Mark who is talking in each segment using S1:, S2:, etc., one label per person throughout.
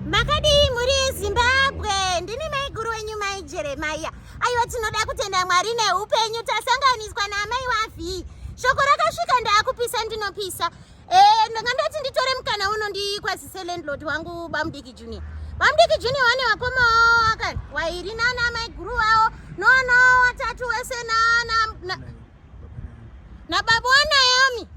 S1: makadii mhuri yezimbabwe ndini maiguru wenyu mai jeremaiya aiwa tinoda kutenda mwari neupenyu tasanganiswa naamai wavhii shoko rakasvika ndaakupisa ndinopisa eh, ndanga ndati nditore mukana uno ndikwazise landlord wangu bamudiki junior bamudiki junior wane wakoma wawo akati wairi nana maiguru wawo noana watatu wese nana nababa wanayomi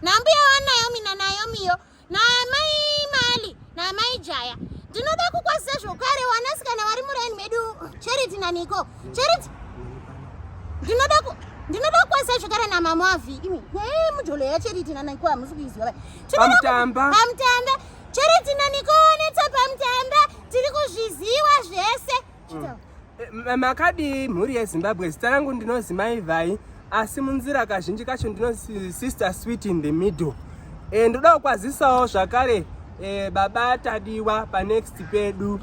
S1: nambuya wanayomi nanayomiyo namai mali namai jaya ndinoda kukwazisa zvokare wanasikana vari muraini medu charity naniko charity ndinoda ku ndinoda kukwazisa zvokare namama wavi imi ee mujolo yacharity naniko hamusi kuiziva vai tinodapamutamba
S2: pamutamba
S1: charity naniko netsa pamutamba tiri kuzviziva zvese Eh, makadii
S2: mhuri yezimbabwe zita rangu ndinozi maivhai asi munzira kazhinji kacho ndinozi sister sweet in the middle e, ndoda kukwazisawo zvakare e, baba tadiwa panext pedu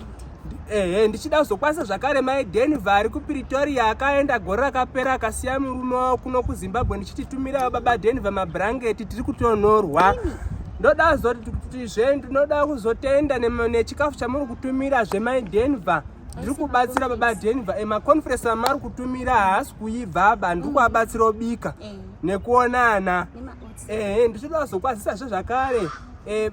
S2: ehe ndichida kuzokwanisa zvakare mai denver ari kupretoria akaenda gore rakapera akasiya murume wavo kuno kuzimbabwe ndichititumirawo baba denver mabrangeti tiri kutonorwa ndoda kuti zve ndinoda kuzotenda nechikafu chamuri kutumira zvemai denver ndiri kubatsira baba denver emaconference eh, amari kutumira haasi kuibva aba ndiri mm. kuabatsira obika eh. nekuonana ehe ndichida kuzokwazisa zve zvakare Eh,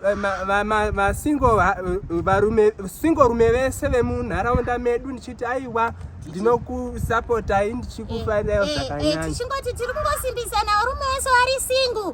S2: vasingo rume vese vemunharaunda medu ndichiti aiwa ndinokusapotai ndichikufanira eh, eh, zvakanyanyatichingotitirikungosimbisana
S1: varume vese vari single